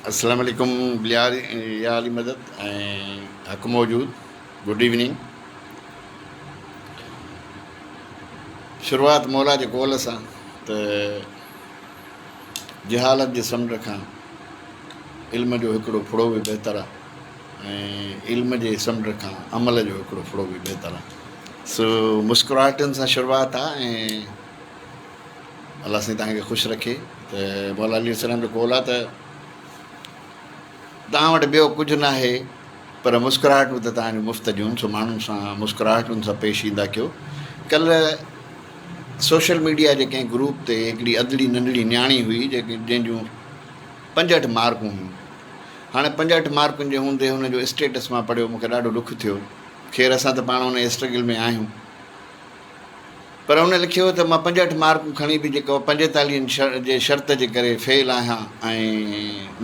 اسلام عليڪم بليار يا علي مدد ۽ حق موجود گڊ ايوننگ شروعات مولا جي قول سان ته جهالت جي سمنڊ کان علم جو هڪڙو ڦڙو به بهتر آهي ۽ علم جي سمنڊ کان عمل جو هڪڙو ڦڙو به بهتر آهي سو مسڪراهٽن سان شروعات آهي ۽ الله سائين توهان کي خوش رکي ته مولا علي السلام جو قول آهي ته توهان وٽ ٻيو ڪجهه ناهي پر مسڪراهٽون ته توهان جون مفت جون سو ماڻهن سان مسڪراهٽن سان پيش ايندا ڪيو ڪلهه سوشل ميڊيا جي ڪنهن گروپ تي هڪڙي ادڙي ننڍڙي نياڻي هئي جيڪي جنهن جون پنجهٺ مارڪون هيون هاڻي پنجهٺ مارڪن جي هوندي هن جو اسٽيٽس مان پڙهيو مونکي ڏاڍو ڏک ٿيو خير اسان ته پاڻ ان اسٽرگل ۾ آهيون پر هن لکيو ته مان پنجهٺ مارڪون کڻي به جيڪو پنجيتاليهن جي شرط جي ڪري فيل آهيان ۽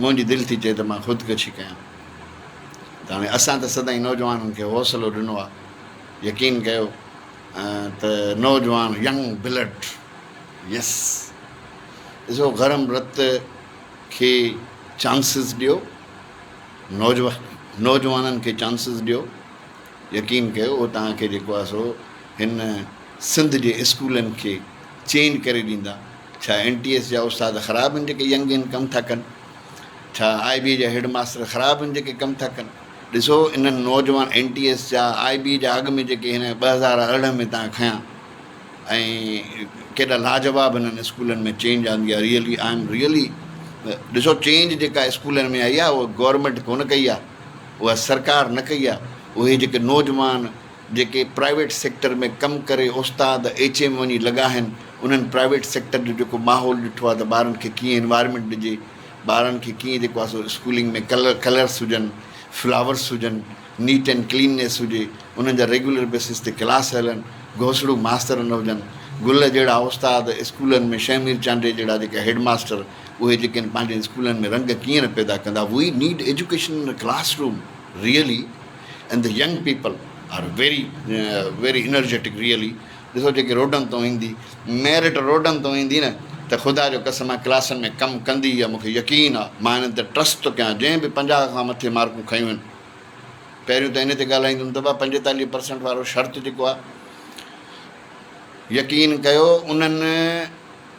منهنجي دل ٿي چئي ته مان خودڪشي ڪيان ته هاڻي اسان ته سدائين نوجوانن کي حوصلو ڏنو آهي يقين ڪيو ته نوجوان ينگ بلڊ يس ڏسو گرم رت کي چانسز ڏيو نوجوان نوجوانن کي چانسز ڏيو يقين ڪيو هو توهان کي جيڪو آهي سو هن سنڌ جي اسڪولن کي چينج ڪري ڏيندا ڇا اين ٽي ايس جا استاد خراب آهن جيڪي ينگ ان ڪم ٿا ڪن ڇا آء بي جا هيڊ ماستر خراب آهن جيڪي ڪم ٿا ڪن ڏسو انهن نوجوان اين ٽي ايس جا آء بي جا اڳ ۾ جيڪي هن ٻه هزار ارڙهن ۾ تان کنيا ۽ ڪيڏا لاجواب هنن اسڪولن ۾ چينج آندي آهي ريئلي آء ايم ريئلي ڏسو چينج جيڪا اسڪولن ۾ آئي آهي اها گورمينٽ ڪونه ڪئي آهي اها سرڪار نه ڪئي آهي اهي جيڪي نوجوان جيڪي پرائيويٽ سيڪٽر ۾ ڪم ڪري استاد ايڇ ايم وڃي لڳا آهن انهن پرائيويٽ سيڪٽر جو جيڪو ماحول ڏٺو آهي ته ٻارن کي ڪيئن انوائرمينٽ ڏجي ٻارن کي ڪيئن جيڪو آهي سو اسڪولنگ ۾ ڪلر ڪلرس هجن فلاورس هجن نيٽ اينڊ ڪليننيس هجي انهن جا ريگيولر بيسس تي ڪلاس هلن گهوسڙو ماستر نه هجن گل جهڙا استاد اسڪولن ۾ شهمير چانڊيي جهڙا جيڪا هيڊ ماستر اهي جيڪي آهن پنهنجي اسڪولن ۾ رنگ ڪيئن نه پيدا ڪندا we need education in classroom really and the young people are very very energetic really ڏسو جيڪي روڊن تون ايندي ميرٽ روڊن تون ايندي نه ته خدا جو قسم آهي ڪلاسن ۾ ڪم ڪندي يا مونکي يقين آهي مان انهن تي ٽرسٽ ٿو ڪيان جنهن به پنجاهه کان مٿي مارڪون کنيون آهن پهريون ته ان تي ڳالهائيندم ته بابا پنجيتاليهه پرسنٽ وارو شرط جيڪو آهي يقين ڪيو انهن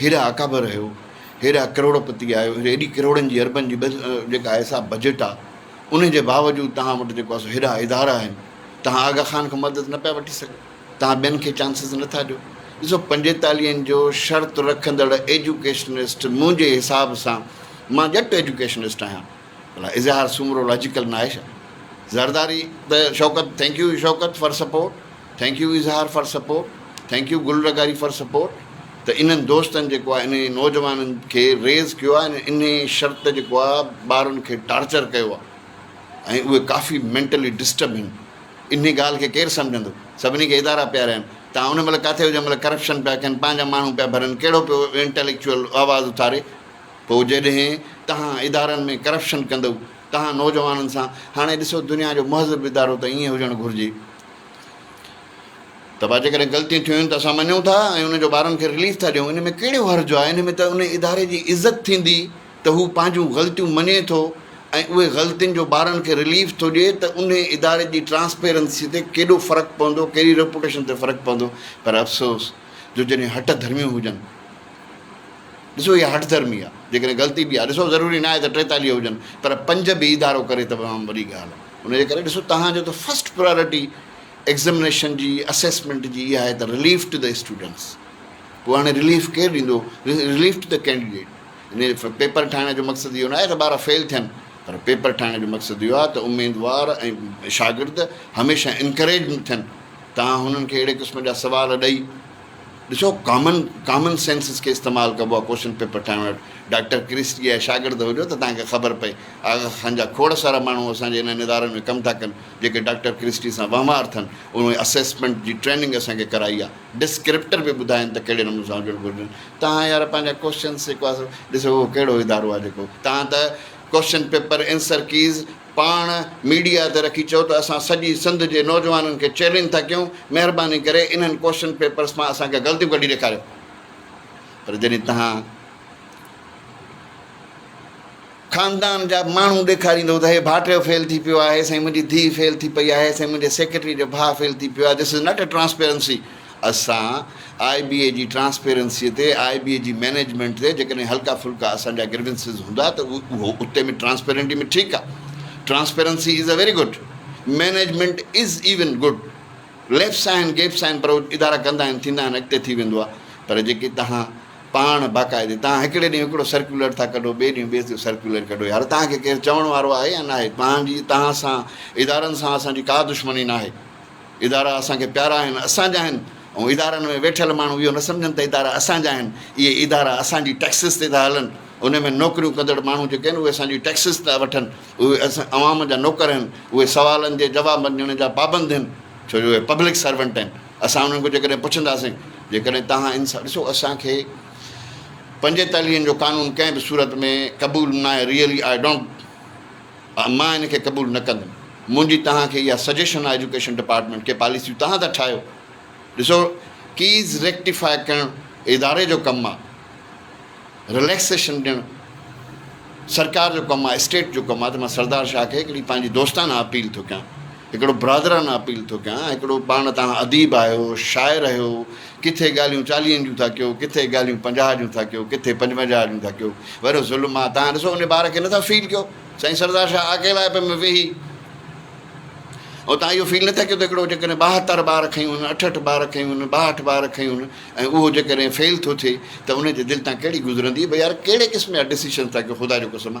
هيڏا اڪابر آهيو، هيڏا ڪروڙ پتي آهيو، هيڏي ڪروڙن جي اربن جي جيڪا آهي سا بجيٽ آ، انهي جي باوجود توهان وٽ جيڪو آ سو هيڏا ادارا آهن، توهان آغا خان کان مدد نه پيا وٺي سگهو، توهان ٻين کي چانسز نه ٿا ڏيو. ڏسو پنجيتاليهن جو شرط رکندڙ ايجوڪيشنسٽ منهنجي حساب سان مان ڄٽ ايجوڪيشنسٽ آهيان. ڀلا اظهار سومرو لاجيڪل ناهي ڇا. زرداري ته Shaukat thank you Shaukat for support thank you Izhar for support thank you Gul رغاري فار سپورٽ ته انهن دوستن جيڪو آهي انهن نوجوانن کي ريز ڪيو آهي ۽ انهي شرط جيڪو آهي ٻارن کي ٽارچر ڪيو آهي ۽ اهي ڪافي مينٽلي ڊسٽرب آهن انهي ڳالهه کي ڪير سمجهندو سڀني کي ادارا پيارا آهن توهان ان مهل ڪاٿي هجو جنهن مهل ڪرپشن پيا ڪن پنهنجا ماڻهو پيا ڀرن ڪهڙو پيو انٽيليڪچوئل آواز اٿاري پوء جڏهن توهان ادارن ۾ ڪرپشن ڪندؤ توهان نوجوانن سان هاڻي ڏسو دنيا جو مهذب ادارو ته ائين هجڻ گهرجي ته با جيڪڏهن غلطيون ٿيون آهن ته اسان مڃون ٿا ۽ ان جو ٻارن کي رليف ٿا ڏيون ان ۾ ڪهڙو حرج آهي ان ۾ ته ان اداري جي عزت ٿيندي ته هو پنهنجون غلطيون مڃي ٿو ۽ اهي غلطين جو ٻارن کي رليف ٿو ڏئي ته ان اداري جي ٽرانسپيرنسي تي ڪيڏو فرق پوندو ڪهڙي ريپوٽيشن تي فرق پوندو پر افسوس جو جڏهن هٽ ڌرميون هجن ڏسو اها هٺ ڌرمي آ جيڪڏهن غلطي به آ ڏسو ضروري ناهي ته ٽيتاليهه هجن پر پنج به ادارو ڪري ته تمام وڏي ڳالهه آ ان جي ڪري ڏسو توهان جو ته فرسٽ پرائرٽي ايگزمنيشن جي اسيسمينٽ جي اها آهي ته رليف ٽو ته اسٽوڊنٽس پوء هاڻي رليف ڪير ڏيندو رليف ٽو ته ڪينڊيڊيٽ ان پيپر ٺاهڻ جو مقصد اهو ناهي ته ٻار فيل ٿين پر پيپر ٺاهڻ جو مقصد اهو آ ته اميدوار ۽ شاگرد هميشه انڪريج ٿين توهان هنن کي اهڙي قسم جا سوال ڏئي ڏسو ڪامن ڪامن سينسز کي استعمال ڪبو آ ڪوشچن پيپر ٺاهڻ وٽ ڊاڪٽر ڪرسٽي جا شاگرد هجو ته توهان کي خبر پئي آغا خان جا کوڙ سارا ماڻهو اسان جي انهن ادارن ۾ ڪم ٿا ڪن جيڪي ڊاڪٽر ڪرسٽي سان وهنوار ٿن انهن اسيسمينٽ جي ٽريننگ اسان کي ڪرائي آ ڊسڪرپٽر به ٻڌائين ته ڪهڙي نموني سان هجڻ گهرجن توهان يار پنهنجا ڪوشچنز جيڪو آ سو ڏسو اهو ڪهڙو ادارو آ جيڪو توهان ته ڪوشچن پيپر انسر ڪيز پاڻ ميڊيا تي رکي چئو ته اسان سڄي سنڌ جي نوجوانن کي چئلينج ٿا ڪيون مهرباني ڪري انهن ڪوئسچن پيپرس مان اسان کي غلطيون ڪڍي ڏيکاريو پر جڏهن تهان خاندان جا ماڻهو ڏيکاريندو ته هي ڀاٽيو فيل ٿي پيو آهي سائين منهنجي ڌيء فيل ٿي پئي آهي سائين منهنجي سيڪريٽري جو ڀاء فيل ٿي پيو آهي this is not a transparency اسان آء بي اي جي ٽرانسپيرنسي تي، آء بي اي جي مينيجمينٽ تي جيڪڏهن هلڪا ڦلڪا اسان جا گريونسز هوندا ته اهو اتي ۾ ٽرانسپيرنٽي ۾ ٺيڪ آ. Transparency is a very good. Management is even good. Lapses آهن گيپس آهن پر اهو ادارا ڪندا آهن ٿيندا آهن اڳتي ٿي ويندو آ. پر جيڪي توهان پاڻ باقاعدي توهان هڪڙي ڏينهن هڪڙو سرڪيولر ٿا ڪڍو ٻئي ڏينهن ٻيو سرڪيولر ڪڍو يار توهان کي ڪير چوڻ وارو آهي يا ناهي توهان جي توهان سان ادارن سان اسان جي ڪا دشمني ناهي. ادارا اسان کي پيارا آهن، اسان جا آهن ۽ ادارن ۾ ويٺل ماڻهو اهو نه سمجهن ته ادارا اسان جا آهن، اهي ادارا اسان جي ٽيڪسز تي ٿا هلن، انهن ۾ نوڪريون ڪندڙ ماڻهو جيڪي آهن اهي اسان جي ٽيڪسز ٿا وٺن، اهي عوام جا نوڪر آهن، اهي سوالن جي جوابن ڏيڻ جا پابند آهن ڇو جو اهي پبلڪ سرونٽ آهن، اسان انهن کان جيڪڏهن پڇنداسين جيڪڏهن توهان ان سان ڏسو اسان کي پنجيتاليهن جو قانون ڪنهن به صورت ۾ قبول ناهي ريئلي آء ڊونٽ. مان ان کي قبول نه ڪندم. منهنجي توهان کي اها سجيشن آهي ايجوڪيشن ڊپارٽمينٽ کي پاليسيون توهان ٿا ٺاهيو. ڏسو ڪيز ريڪٽيفاء ڪرڻ اداري جو ڪم آهي. رليڪسيشن ڏيڻ سرڪار جو ڪم آهي اسٽيٽ جو ڪم آهي ته مان سردار شاهه کي هڪڙي پنهنجي دوستانه اپيل ٿو ڪيان. هڪڙو برادرانه اپيل ٿو ڪيان، هڪڙو پاڻ تان اديب آهيو، شاعر هيو، ڪٿي ڳالهيون چاليهن جون ٿا ڪيو، ڪٿي ڳالهيون پنجاهه جون ٿا ڪيو، ڪٿي پنجونجاهه جون ٿا ڪيو، وڏو ظلم آ، تان ڏسو ان بار کي نه ٿا فيل ڪيو، سائين سردار شاهه اڪيلائپ ۾ ويهي ۽ تان اهو فيل نه ٿا ڪيو ته هڪڙو جيڪڏهن ٻاهتر بار کنيون هن، اٺهٺ بار کنيون هن، ٻاهٺ بار کنيون هن ۽ اهو جيڪڏهن فيل ٿو ٿئي ته ان جي دل تان ڪهڙي گذرندي، ڀئي يار ڪهڙي قسم جا ڊسيشنز ٿا ڪيو خدا جو قسم آ.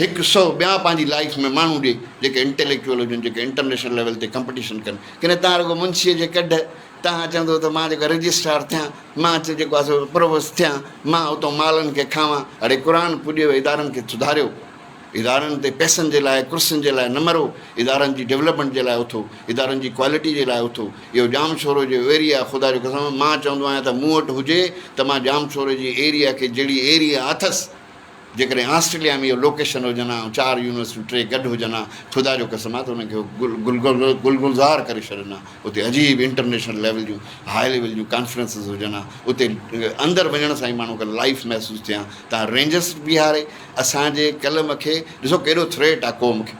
هڪ سئو ٻيا پنهنجي لائيف ۾ ماڻهو ڏي جيڪي انٽيليڪچوئل هجن جيڪي انٽرنيشنل ليول تي ڪمپٽيشن ڪن ڪنهن تان رڳو منشيء جي ڪڍ تان چوندو ته مان جيڪو رجسٽرار ٿيان مان جيڪو آهي سو پرووست ٿيان مان اتو مالن کي کاوان اڙي قرآن پوڄيو ادارن کي سڌاريو ادارن تي پئسن جي لاء ڪرسين جي لاء نه مرو ادارن جي ڊيولپمينٽ جي لاء اٿو ادارن جي ڪوالٽي جي لاء اٿو اهو ڄام شورو جو ايريا خدا جو قسم مان چوندو آهيان ته مون وٽ هجي ته مان ڄام شورو جي ايريا کي جهڙي ايريا اٿس جيڪڏهن آسٽريليا ۾ اهي لوڪيشن هجن ها ۽ چار يونيورسٽيون ٽي گڏ هجن ها خدا جو قسم آهي ته انهن کي گل گلزار ڪري ڇڏن ها اتي عجيب انٽرنيشنل ليول جون هاء ليول جون ڪانفرنسز هجن ها اتي اندر وڃڻ سان ئي ماڻهو کي لائف محسوس ٿئي ها تان رينجرس بيهاري اسان جي قلم کي ڏسو ڪيڏو ٿريٽ آهي قوم کي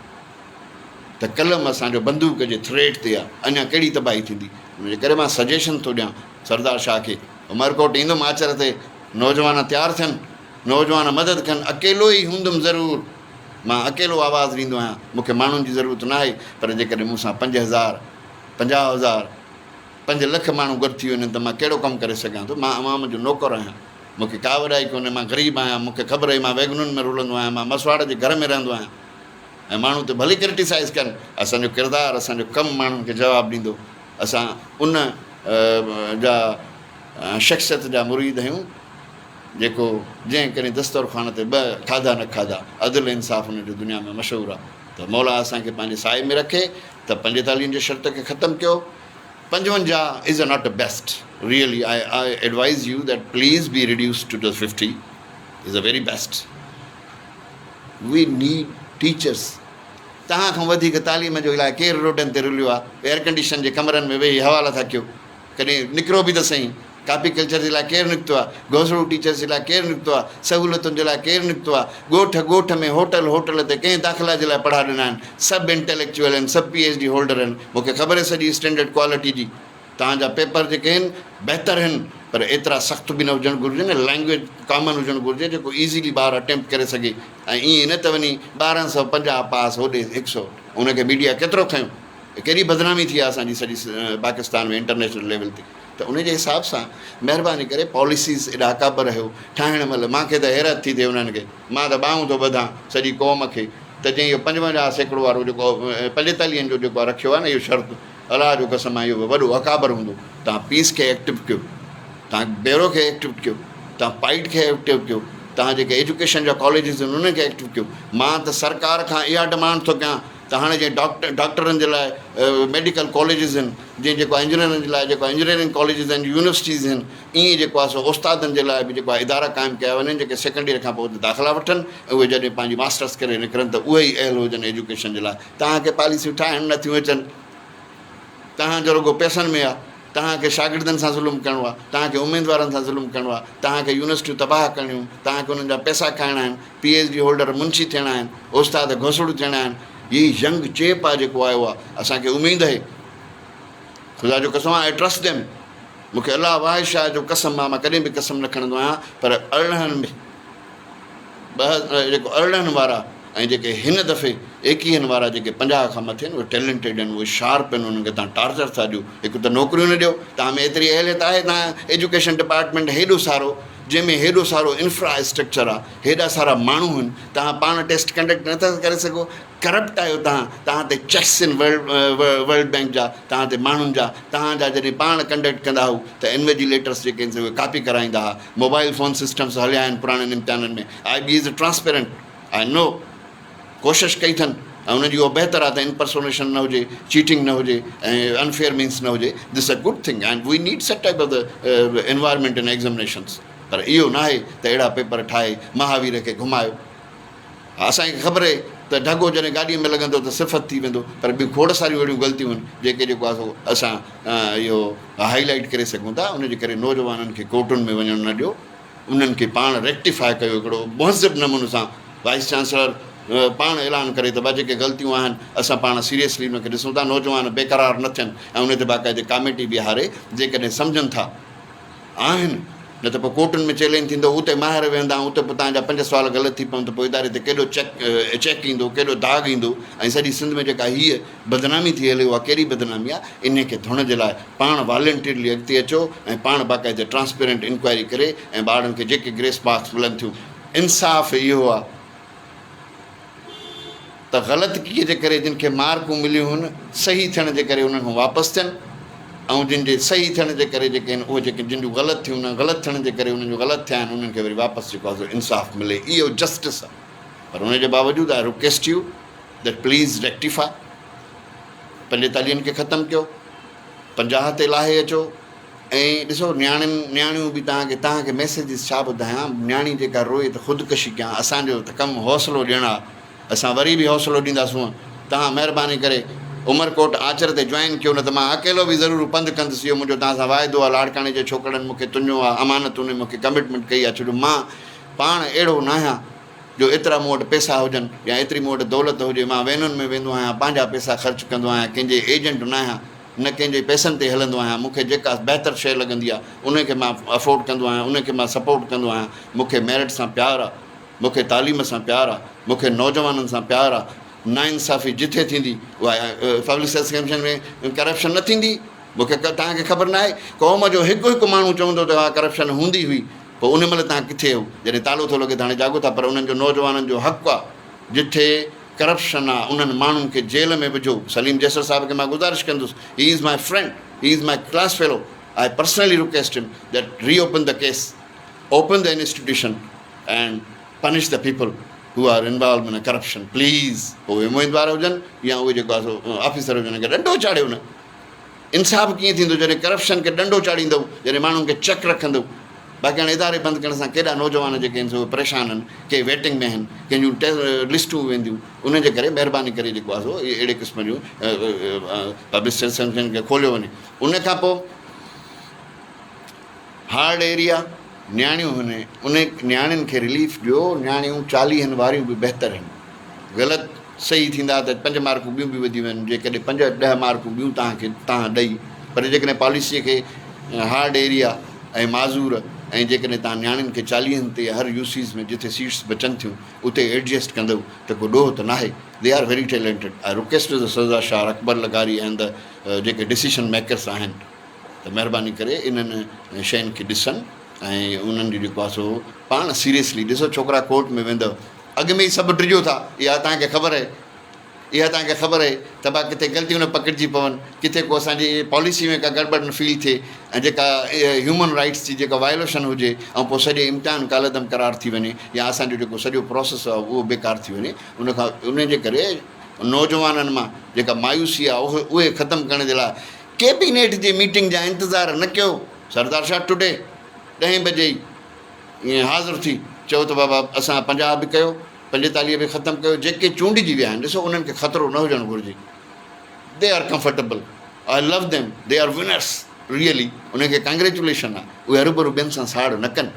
ته قلم اسان جو بندوق جي ٿريٽ تي آهي اڃا ڪهڙي تباهي ٿيندي ان جي ڪري مان سجيشن ٿو ڏيان سردار شاهه کي عمرڪوٽ ايندم آچر تي نوجوان تيار ٿين نوجوان مدد کن اڪيلو ئي هوندم ضرور مان اڪيلو آواز ڏيندو آهيان مون کي ماڻهن جي ضرورت ناهي پر جيڪڏهن مون سان پنج هزار پنجاهه هزار پنج لک ماڻهو گڏ ٿي وڃن ته مان ڪهڙو ڪم ڪري سگهان ٿو مان عوام جو نوڪر آهيان مون کي ڪا وڏائي ڪونهي مان غريب آهيان مون کي خبر اهي مان ويگنن ۾ رلندو آهيان مان مسواڙ جي گهر ۾ رهندو آهيان ۽ ماڻهو ته ڀلي ڪرٽيسائز ڪن اسان جو ڪردار اسان جو ڪم ماڻهن کي جواب ڏيندو اسان ان جا شخصيت جا مريد آهيون جيڪو جنهن ڪڏهن دسترخوان تي ٻه کاڌا نه کاڌا، عدل انصاف ان جو دنيا ۾ مشهور آ ته مولا اسان کي پنهنجي سايي ۾ رکي ته پنجيتاليهن جي شرط کي ختم ڪيو پنجونجاهه is a not a best really I I advise you that please be reduced to to fifty is a very best we need teachers توهان کان وڌيڪ تعليم جو الاء ڪير روڊن تي رليو آ ايئر ڪنڊيشن جي ڪمرن ۾ ويهي حوالا ٿا ڪيو ڪڏهن نڪرو به ته سهي ڪاپي ڪلچر جي لاء ڪير نڪتو آ؟ گهوسڙو ٽيچرس جي لاء ڪير نڪتو آ؟ سهولتن جي لاء ڪير نڪتو آ؟ ڳوٺ ڳوٺ ۾ هوٽل هوٽل تي ڪنهن داخلا جي لاء پڙها ڏنا آهن؟ سڀ انٽيليڪچوئل آهن، سڀ پي ايڇ ڊي هولڊر آهن، مون کي خبر آهي سڄي اسٽينڊرڊ ڪوالٽي جي. توهان جا پيپر جيڪي آهن بهتر آهن پر ايترا سخت به نه هجڻ گهرجن ۽ لينگويج ڪامن هجڻ گهرجي جيڪو ايزيلي ٻار اٽيمپٽ ڪري سگهي ۽ ائين نه ته وڃي ٻارهن سؤ پنجاهه پاس هوڏي هڪ سؤ ان کي ميڊيا ڪيترو کنيو. هي ڪيڏي بدنامي ٿي آ اسان جي سڄي پاڪستان ۾ انٽرنيشنل ليول تي. ته ان جي حساب سان مهرباني ڪري پاليسيز ايڏا ڪابه رهيو ٺاهڻ مهل مان کي ته حيرت ٿي ٿئي انهن کي مان ته ٻانهون ٿو ٻڌان سڄي قوم کي ته جنهن اهو پنجونجاهه سيڪڙو وارو جيڪو پنجيتاليهن جو جيڪو رکيو آهي نه اهو شرط الله جو قسم آهي اهو وڏو اڪابر هوندو تان پيس کي ايڪٽو ڪيو تان بيرو کي ايڪٽو ڪيو تان پائيٽ کي ايڪٽو ڪيو تان جيڪي ايجوڪيشن جا ڪاليجز آهن انهن کي ايڪٽو ڪيو مان ته سرڪار کان اها ڊمانڊ ٿو ڪيان ته هاڻي جيئن ڊاڪٽر ڊاڪٽرن جي لاء ميڊيڪل ڪاليجز هن جيئن جيڪو آهي انجنيئرن جي لاء جيڪو آهي انجنيئرنگ ڪاليجز هن يونيورسٽيز هن ائين جيڪو آهي سو استادن جي لاء به جيڪو آهي ادارا قائم ڪيا وڃن جيڪي سيڪنڊ ييئر کان پوء اتي داخلا وٺن ۽ اهي جڏهن پنهنجي ماسٽرس ڪري نڪرن ته اهي ئي اهل هجن ايجوڪيشن جي لاء توهان کي پاليسيون ٺاهڻ نه ٿيون اچن توهان جو رڳو پئسن ۾ آهي توهان کي شاگردن سان ظلم ڪرڻو آهي توهان کي اميدوارن سان ظلم ڪرڻو آهي توهان کي يونيورسٽيون تباهه ڪرڻيون توهان کي انهن جا پئسا کائڻا آهن پي ايڇ ڊي هولڊر منشي ٿيڻا آهن، استاد گهسڙو ٿيڻا آهن، هي ينگ چيپ آهي جيڪو آيو آهي، اسان کي اميد اهي، خدا جو قسم آء ٽرسٽ ڏيم، مون کي الله واحد شاهد جو قسم آهي، مان ڪڏهن به قسم نه کڻندو آهيان، پر ارڙهن ٻه جيڪو ارڙهن وارا ۽ جيڪي هن دفعي ايڪيهن وارا جيڪي پنجاهه کان مٿي آهن اهي ٽيلنٽيڊ آهن، اهي شارپ آهن، انهن کي تهان ٽارچر ٿا ڏيو، هڪ ته نوڪريون نه ڏيو، تهان ۾ ايتري اهليت آهي، تهان ايجوڪيشن ڊپارٽمينٽ هيڏو سارو. جنهن ۾ هيڏو سارو انفرا اسٽرڪچر آ هيڏا سارا ماڻهو هن توهان پاڻ ٽيسٽ ڪنڊڪٽ نه ٿا ڪري سگهو ڪرپٽ آهيو توهان توهان تي چيڪس ان ورلڊ بينڪ جا توهان تي ماڻهن جا توهان جا جڏهن پاڻ ڪنڊڪٽ ڪندا هئو ته انويجيليٽرس جيڪي هن سي اهي ڪاپي ڪرائيندا ها موبائل فون سسٽمس هليا آهن پراڻن امتحانن ۾ I B is transparent I know ڪوشش ڪئي اٿن ۽ انهن جي اها بهتر آهي ته انپرسونيشن نه هجي، چيٽنگ نه هجي ۽ انفيئر مينس نه هجي، this a good thing and we need such type of the environment in examinations پر اهو ناهي ته اهڙا پيپر ٺاهي مهاوير کي گهمايو ها اسان کي خبر هي ته ڍڳو جڏهن گاڏي ۾ لڳندو ته صفت ٿي ويندو پر ٻيون کوڙ ساريون اهڙيون غلطيون آهن جيڪي جيڪو آهي سو اسان اهو هائي لائيٽ ڪري سگهون ٿا ان جي ڪري نوجوانن کي ڪورٽن ۾ وڃڻ نه ڏيو. انهن کي پاڻ ريڪٽيفاء ڪيو هڪڙو مهذب نموني سان وائيس چانسلر پاڻ اعلان ڪري ته ڀا جيڪي غلطيون آهن اسان پاڻ سيريسلي ان کي ڏسون ٿا نوجوان بيقرار نه ٿين ۽ ان تي باقاعدي ڪاميٽي بيهاري جيڪڏهن سمجهن ٿا آهن نه ته پوء ڪورٽن ۾ چيلينج ٿيندو اتي ماهر ويهندا ۽ اتي پوء تنهن جا پنج سوال غلط ٿي پون ته پوء اداري تي ڪيڏو چيڪ چيڪ ايندو ڪيڏو داغ ايندو ۽ سڄي سنڌ ۾ جيڪا هيء بدنامي ٿي هلي اها ڪهڙي بدنامي آ انهي کي ڌوڻ جي لاء پاڻ والنٽرلي اڳتي اچو ۽ پاڻ باقاعده ٽرانسپيرنٽ انڪوائري ڪري ۽ ٻارڙن کي جيڪي گريس مارڪس ملن ٿيون انصاف اهو آ ته غلطڪي جي ڪري جن کي مارڪون مليون هن صحيح ٿيڻ جي ڪري انهن کان واپس ٿين ۽ جن جي صحيح ٿيڻ جي ڪري جيڪي اهي جيڪي جن جون غلط ٿيون انهن غلط ٿيڻ جي ڪري انهن جو غلط ٿيا آهن انهن کي وري واپس جيڪو آ سو انصاف ملي اهو جسٽس آ پر انهي جي باوجود آء رڪويسٽ يو ته پليز ريڪٽيفاء پنهنجي تعليم کي ختم ڪيو پنجاهه تي لاهي اچو ۽ ڏسو نياڻين نياڻيون به تهان کي تهان کي ميسيجز ڇا ٻڌايان نياڻي جيڪا روئي ته خودڪشي ڪيان اسان جو ته ڪم حوصلو ڏيڻ آ اسان وري به حوصلو ڏيندا سون تهان مهرباني ڪري عمرڪوٽ آچر تي جوائن ڪيو نه ته مان اڪيلو به ضرور پنڌ ڪندس اهو منهنجو تهان سان واعدو آ لاڙڪاڻي جي ڇوڪرڙن مون کي تنيو آ امانت انهن مون کي ڪمٽمنٽ ڪئي آ ڇو جو مان پاڻ اهڙو ناهيان جو ايترا مون وٽ پئسا هجن يا ايتري مون وٽ دولت هجي، مان وينن ۾ ويندو آهيان، پنهنجا پئسا خرچ ڪندو آهيان، ڪنهن جي ايجنٽ ناهيان، نه ڪنهن جي پئسن تي هلندو آهيان، مون کي جيڪا بهتر شيء لڳندي آهي، انهي کي مان افورڊ ڪندو آهيان، انهي کي مان سپورٽ ڪندو آهيان، مون کي ميرٽ سان پيار آهي، مون کي تعليم سان پيار آهي، مون کي نوجوانن سان پيار آهي، ناانصافي جتي ٿيندي اها پبلڪ سروس ڪميشن ۾ ڪرپشن نه ٿيندي، مون کي توهان کي خبر ناهي قوم جو هڪ هڪ ماڻهو چوندو ته اها ڪرپشن هوندي هئي، پوء ان مهل تان ڪٿي هو جڏهن تالو ٿو لڳي ته هاڻي جاڳو ٿا پر انهن جو نوجوانن جو حق آ جٺي ڪرپشن آ انهن ماڻهن کي جيل ۾ وجهو سليم جيسر صاحب کي مان گذارش ڪندس he is my friend he is my class fellow I personally request him that reopen the case open the institution and punish the people who are involve in corruption please پوء اميدوار هجن يا اهي جيڪو officer هجن انهن کي ڏنڊو چاڙهيو نه. انصاف ڪيئن ٿيندو جڏهن ڪرپشن کي ڏنڊو چاڙهيندؤ جڏهن ماڻهن کي چڪ رکندؤ باقي هاڻي اداري بند ڪرڻ سان ڪيڏا نوجوان جيڪي آهن سي اهي پريشان آهن ڪي ويٽنگ ۾ آهن ڪنهن جون ٽي لسٽون وينديون انهن جي ڪري مهرباني ڪري جيڪو آهي سو اهڙي قسم جون پبلسٽن کي کوليو وڃي ان کان پوء هارڊ ايريا نياڻيون هن انهي نياڻين کي رليف ڏيو نياڻيون چاليهن واريون به بهتر هن غلط صحيح ٿيندا ته پنج مارڪون ٻيون به وڌي ويهن جيڪڏهن پنج ڏهه مارڪون ٻيون توهان کي توهان ڏئي پر جيڪڏهن پاليسي کي هارڊ ايريا ۽ معذور ۽ جيڪڏهن توهان نياڻين کي چاليهن تي هر يوسيز ۾ جتي سيٽس بچن ٿيون اتي ايڊجسٽ ڪندئو ته ڪو ڏوهه ته ناهي they are very talented I request the Sardar Shah Akbar لغاري اينڊ ذا جيڪي ڊسيشن ميڪرس آهن ته مهرباني ڪري انهن شين کي ڏسن ۽ انهن جو جيڪو آهي سو پاڻ سيريسلي ڏسو ڇوڪرا ڪورٽ ۾ ويندو اڳ ۾ ئي سڀ ڊڄو ٿا اها توهان کي خبر اهي اها توهان کي خبر اهي ته با ڪٿي غلطيون نه پڪڙجي پون ڪٿي ڪو اسان جي پاليسي ۾ ڪا گڙبڙ نه فيل ٿئي ۽ جيڪا هيومن رائيٽس جي جيڪا وايوليشن هجي ۽ پوء سڄي امتحان ڪالعدم قرار ٿي وڃي يا اسان جو جيڪو سڄو پروسيس آهي اهو بيڪار ٿي وڃي ان کان ان جي ڪري نوجوانن مان جيڪا مايوسي آهي اهي ختم ڪرڻ جي لاء ڪيبينيٽ جي ميٽنگ جا انتظار نه ڪيو سردار شاهه ٽوڊي ڏهين بجي ئي ائين حاضر ٿي چيو ته بابا اسان پنجاهه به ڪيو پنجيتاليهه به ختم ڪيو جيڪي چونڊجي ويا آهن ڏسو انهن کي خطرو نه هجڻ گهرجي they are comfortable I love them they are winners really انهن کي ڪانگريچوليشن آهي اهي هروڀرو ٻين سان ساڙ نه ڪن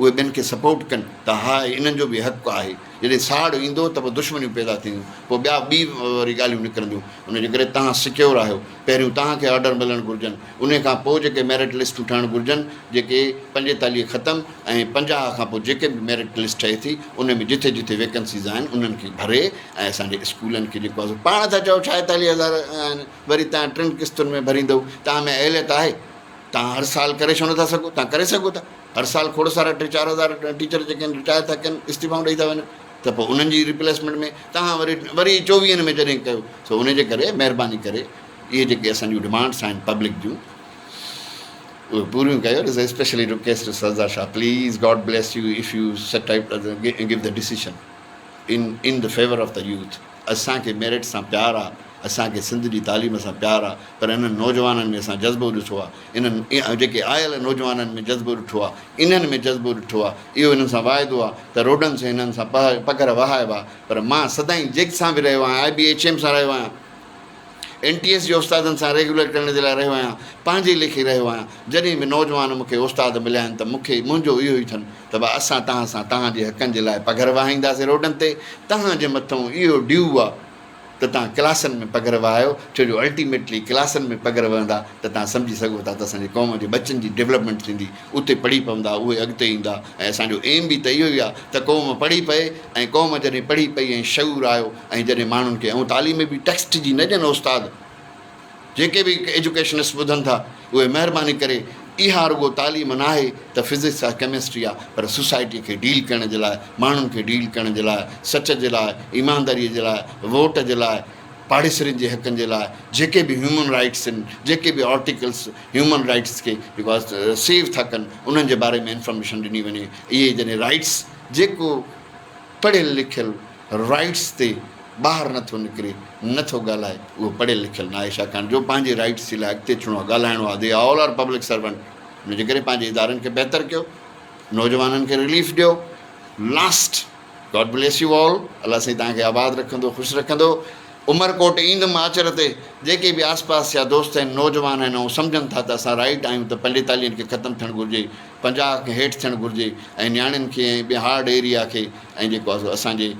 اهي ٻين کي سپورٽ ڪن ته ها انهن جو به حق آهي جڏهن ساڙ ايندو ته پوء دشمنيون پيدا ٿينديون پوء ٻيا ٻي وري ڳالهيون نڪرنديون ان جي ڪري تهان سڪيور آهيو پهريون تهان کي آرڊر ملڻ گهرجن انهي کان پوء جيڪي ميرٽ لسٽون ٺهڻ گهرجن جيڪي پنجيتاليهه ختم ۽ پنجاهه کان پوء جيڪي به ميرٽ لسٽ ٺهي ٿي انهي ۾ جٿي جٿي ويڪنسيز آهن انهن کي ڀري ۽ اسان جي اسڪولن کي جيڪو آهي پاڻ ٿا چئو ڇاهيتاليهه هزار آهن وري تهان ٽن قسطن ۾ ڀريندئو تهان ۾ اهليت آهي تهان هر سال ڪري ڇو نٿا سگهو تهان ڪري سگهو ٿا هر سال کوڙ سارا ٽي چار هزار ٽيچر جيڪي آهن رٽائر ٿا ڪن استعيفائون ڏئي ٿا وڃن ته پوء انهن جي ريپليسمينٽ ۾ توهان وري وري چوويهن ۾ جڏهن ڪيو سو ان جي ڪري مهرباني ڪري اهي جيڪي اسان جون ڊمانڊس آهن پبلڪ جون اهي پوريون ڪيو ڏس specially request Sardar Shah please God bless you if you set type give the decision in in the favour of the youth اسان کي ميرٽ سان پيار آ اسان کي سنڌ جي تعليم سان پيار آ پر انهن نوجوانن ۾ اسان جذبو ڏٺو آ انهن جيڪي آيل نوجوانن ۾ جذبو ڏٺو آ انهن ۾ جذبو ڏٺو آ اهو انهن سان واعدو آ ته روڊن سين انهن سان پهه پگهر وهائبا پر مان سدائين جيڪٽ سان به رهيو آهيان آء بي ايڇ ايم سان رهيو آهيان اين ٽي ايس جي استادن سان ريگيولر ڪرڻ جي لاء رهيو آهيان، پنهنجي ليکي رهيو آهيان، جڏهن به نوجوان مون کي استاد مليا آهن ته مون کي منهنجو اهو ئي ٿن ته ڀا اسان توهان سان توهان جي حقن جي لاء پگهر وهائينداسين روڊن تي، توهان جي مٿئون اهو ڊيو آ ته توهان ڪلاسن ۾ پگهر وهايو ڇو جو الٽيميٽلي ڪلاسن ۾ پگهر وهندا ته توهان سمجهي سگهو ٿا ته اسان جي قوم جي ٻچن جي ڊيولپمينٽ ٿيندي، اتي پڙهي پوندا اهي اڳتي ايندا ۽ اسان جو ايم به ته اهو ئي آ ته قوم پڙهي پئي ۽ قوم جڏهن پڙهي پئي ۽ شعور آيو ۽ جڏهن ماڻهن کي ائون تعليم ۾ به ٽيڪسٽ جي نه ڏين استاد جيڪي به ايجوڪيشنس ٻڌن ٿا اهي مهرباني ڪري اها رڳو تعليم ناهي ته فزڪس آهي ڪيمسٽري آهي پر سوسائٽي کي ڊيل ڪرڻ جي لاء ماڻهن کي ڊيل ڪرڻ جي لاء سچ جي لاء ايمانداري جي لاء ووٽ جي لاء پاڙيسرين جي حقن جي لاء جيڪي به هيومن رائيٽس آهن جيڪي به آرٽيڪلس هيومن رائيٽس کي جيڪو سيو ٿا ڪن انهن جي باري ۾ انفارميشن ڏني وڃي اهي جڏهن رائيٽس جيڪو پڙهيل لکيل رائيٽس تي ٻاهر نه ٿو نڪري نه ٿو ڳالهائي اهو پڙهيل لکيل ناهي ڇاڪاڻ جو پنهنجي رائيٽس جي لاء اڳتي اچڻو آهي ڳالهائڻو آهي they all are public servant ان جي ڪري پنهنجي ادارن کي بهتر ڪيو نوجوانن کي رليف ڏيو last God bless you all الله سائين تان کي آباد رکندو خوش رکندو عمرڪوٽ ايندم آچر تي جيڪي به آس پاس جا دوست آهن نوجوان آهن ۽ سمجهن ٿا ته اسان رائيٽ آهيون ته پنڊيتالين کي ختم ٿيڻ گهرجي پنجاهه کان هيٺ ٿيڻ گهرجي ۽ نياڻين کي ۽ ٻين هارڊ ايريا کي ۽ جيڪو آهي سو اسان جي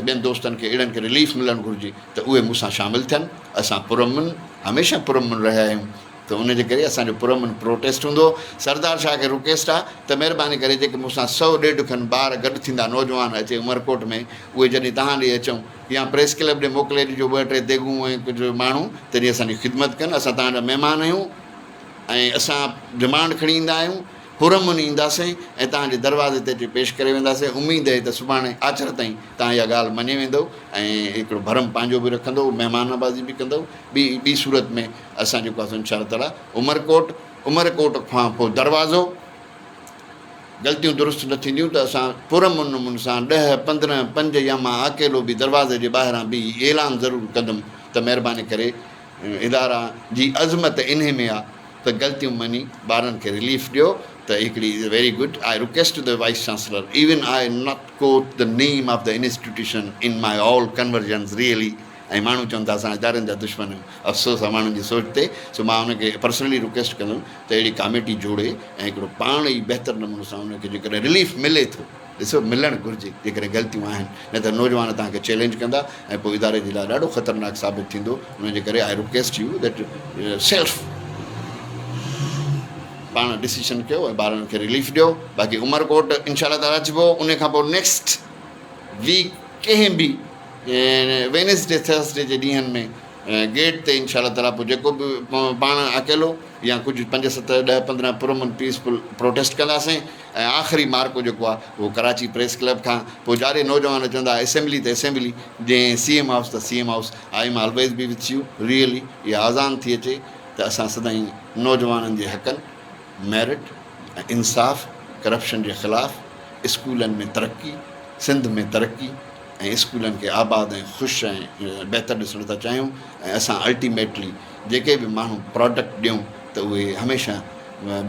ٻين دوستن کي اهڙن کي رليف ملڻ گهرجي ته اهي مون سان شامل ٿين اسان پرامن هميشه پرامن رهيا آهيون ته ان جي ڪري اسان جو پرامن پروٽيسٽ هوندو سردار شاهه کي رڪيسٽ آهي ته مهرباني ڪري جيڪي مون سان سؤ ڏيڍ کن ٻار گڏ ٿيندا نوجوان اچي عمرڪوٽ ۾ اهي جڏهن تهان ڏي اچون يا پريس ڪلب ڏي موڪلي ڏجو ٻه ٽي ديڳون ۽ ڪجهه ماڻهو تنهنجي اسان جي خدمت ڪن اسان تهان جا مهمان آهيون ۽ اسان ڊمانڊ کڻي ايندا آهيون، حرم مني اينداسين ۽ توهان جي دروازي تي اچي پيش ڪري وينداسين، اميد اهي ته سڀاڻي آچر تائين توهان اها ڳالهه مڃي ويندؤ ۽ هڪڙو ڀرم پنهنجو به رکندؤ، مهمان نوازي به ڪندؤ، ٻي ٻي صورت ۾ اسان جيڪو آهي ان شاء الله تعاليٰ عمرڪوٽ، عمر ڪوٽ کان پوء دروازو، غلطيون درست نه ٿينديون ته اسان پرامنمن سان ڏهه، پندرهن، پنج يا مان اڪيلو به دروازي جي ٻاهران بيهي اعلان ضرور ڪندم ته مهرباني ڪري، ادارا جي عظمت انهي ۾ آ ته غلطيون مڃي ٻارن کي رليف ڏيو ته هڪڙي is very good I request the vice chancellor even I not quote the name of the institution in my all conversions really ۽ ماڻهو چون ته اسان ادارن جا دشمن آهيون افسوس آ ماڻهن جي سوچ تي سو مان ان کي پرسنلي رڪويسٽ ڪندم ته اهڙي ڪاميٽي جوڙي ۽ هڪڙو پاڻ ئي بهتر نموني سان ان کي جيڪڏهن رليف ملي ٿو ڏسو ملڻ گهرجي جيڪڏهن غلطيون آهن نه ته نوجوان توهان کي چئلينج ڪندا ۽ پوء اداري جي لاء ڏاڍو خطرناڪ ثابت ٿيندو ان جي ڪري I request you that self پاڻ ڊسيشن ڪيو ۽ ٻارن کي رليف ڏيو باقي عمرڪوٽ انشاء الله تعالیٰ اچبو ان کان پوء نيڪسٽ ويڪ ڪنهن به وينسڊي ٿرسڊي جي ڏينهن ۾ گيٽ تي انشاء الله تعالیٰ پوء جيڪو به پاڻ اڪيلو يا ڪجهه پنج ست ڏهه پندرهن پرامن پيسفل پروٽيسٽ ڪنداسين ۽ آخري معرڪو جيڪو آهي اهو ڪراچي پريس ڪلب کان پوء جاڏي نوجوان چوندا اسيمبلي ته اسيمبلي جنهن سي ايم هائوس ته C M house I am always be with you really اها آزان ٿي اچي ته اسان سدائين نوجوانن جي حقن ميرٽ ۽ انصاف ڪرپشن جي خلاف اسڪولن ۾ ترقي سنڌ ۾ ترقي ۽ اسڪولن کي آباد ۽ خوش ۽ بهتر ڏسڻ ٿا چاهيون ۽ اسان الٽيميٽلي جيڪي به ماڻهو پراڊڪٽ ڏيون ته اهي هميشه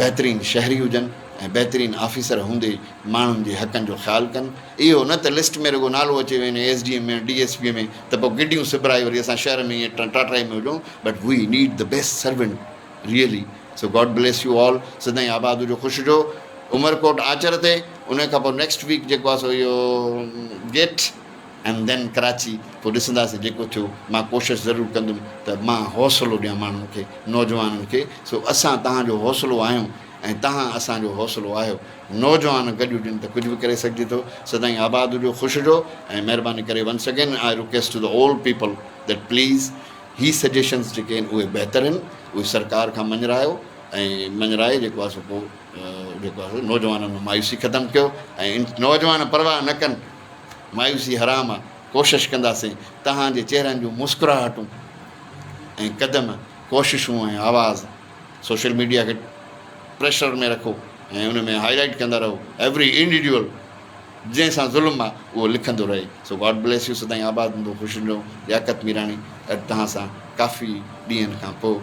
بهترين شهري هجن ۽ بهترين آفيسر هوندي ماڻهن جي حقن جو خيال ڪن اهو نه ته لسٽ ۾ رڳو نالو اچي وڃي S D M ۾ D S P ۾ ته پوء گڊيون سبرائي وري اسان شهر ۾ ائين ٽاٽرائي ۾ هجون but we need the best servant really so God bless you all سدائين آباد هجو خوش هجو عمرڪوٽ آچر تي ان کان پوء نيڪسٽ ويڪ جيڪو آهي سو اهو گيٽ اينڊ دين ڪراچي پوء ڏسنداسين جيڪو ٿيو مان ڪوشش ضرور ڪندم ته مان حوصلو ڏيان ماڻهن کي نوجوانن کي سو اسان تهان جو حوصلو آهيون ۽ تهان اسان جو حوصلو آهيو. نوجوان گڏجن ته ڪجهه به ڪري سگهجي ٿو. سدائين آباد هجو، خوش هجو ۽ مهرباني ڪري once again I request to the old people that please هي سجيشنز جيڪي آهن اهي بهتر آهن اهي سرڪار کان مڃرايو ۽ مڃرائي جيڪو آهي سو پوء جيڪو آهي سو نوجوانن ۾ مايوسي ختم ڪيو ۽ نوجوان پرواهه نه ڪن مايوسي حرام آهي ڪوشش ڪنداسين تهان جي چهرن جون مسڪراهٽون ۽ قدم ڪوششون ۽ آواز سوشل ميڊيا کي پريشر ۾ رکو ۽ ان ۾ هائي لائيٽ ڪندا رهو ايوري انڊيڊيول جنهن سان ظلم آ اهو لکندو رهي سو گاڊ بليس يو سدائين آباد هوندو خوش هوندو لياقت ميراڻي اڄ توهان سان ڪافي ڏينهن کان پو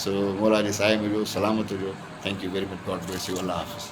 سو مولا جي سايي ۾ هجو سلامت هجو thank you very much God bless you الله حافظ.